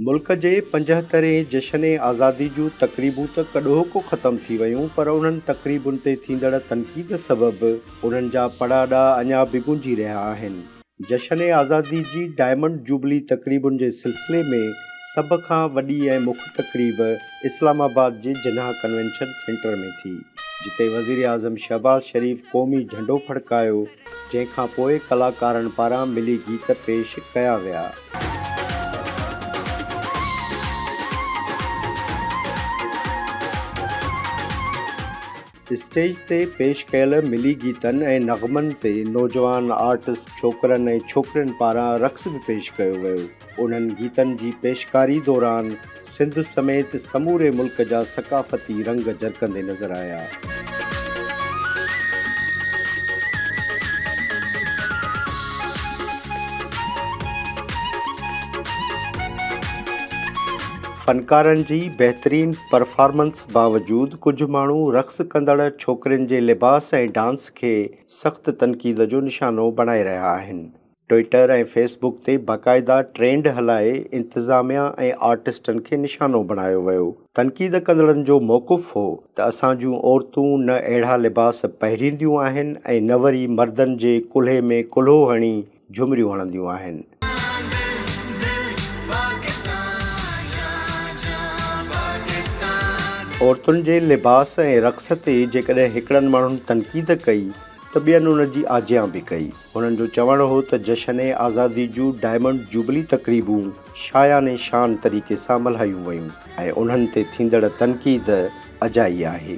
ملڪ جي پنجهترهين جشن آزادي جون تقريبون ته ڪڏهوڪو ختم ٿي ويون پر انهن تقريبن تي ٿيندڙ تنقيد سبب انهن جا پڙاڏا اڃا به گونجي رهيا آهن. جشن آزادي جي ڊائمنڊ جوبلي تقريبن جي سلسلي ۾ سڀ کان وڏي ۽ مک تقريب اسلام آباد جي جناح ڪنوينشن سينٽر ۾ ٿي، جتي وزيراعظم شهباز شريف قومي جهنڊو ڦڙڪايو، جنهن کان پوء ڪلاڪارن پاران ملي گيت پيش ڪيا ويا. اسٽيج تي پيش ڪيل ملي گيتن ۽ نغمن تي نوجوان آرٽسٽ ڇوڪرن ۽ ڇوڪرين پاران رقص به پيش ڪيو ويو. انهن گيتن جي پيشڪاري دوران سنڌ سميت سموري ملڪ جا ثقافتي رنگ جرڪندي نظر آيا. فنڪارن جي بهترين پرفارمنس باوجود ڪجهه ماڻهو رقص ڪندڙ ڇوڪرين جي لباس ۽ ڊانس کي سخت تنقيد جو نشانو بڻائي رهيا آهن. ٽوئيٽر ۽ فيس بڪ تي باقاعده ٽرينڊ هلائي انتظاميا ۽ آرٽسٽن کي نشانو بڻايو ويو. تنقيد ڪندڙن جو موقف هو ته اسان جون عورتون نه اهڙا لباس پهرينديون آهن ۽ نه وري مردن جي ڪلهي ۾ ڪلهو هڻي جهمريون هڻنديون آهن. عورتن جي لباس ۽ رقص تي جيڪڏهن هڪڙن ماڻهن تنقيد ڪئي ته ٻين ان جي آجيان به ڪئي. هنن جو چوڻ هو ته جشن آزادي جون ڊائمنڊ جوبلي تقريبون شايان شان طريقي سان ملهايون ويون ۽ انهن تي ٿيندڙ تنقيد اجائي آهي.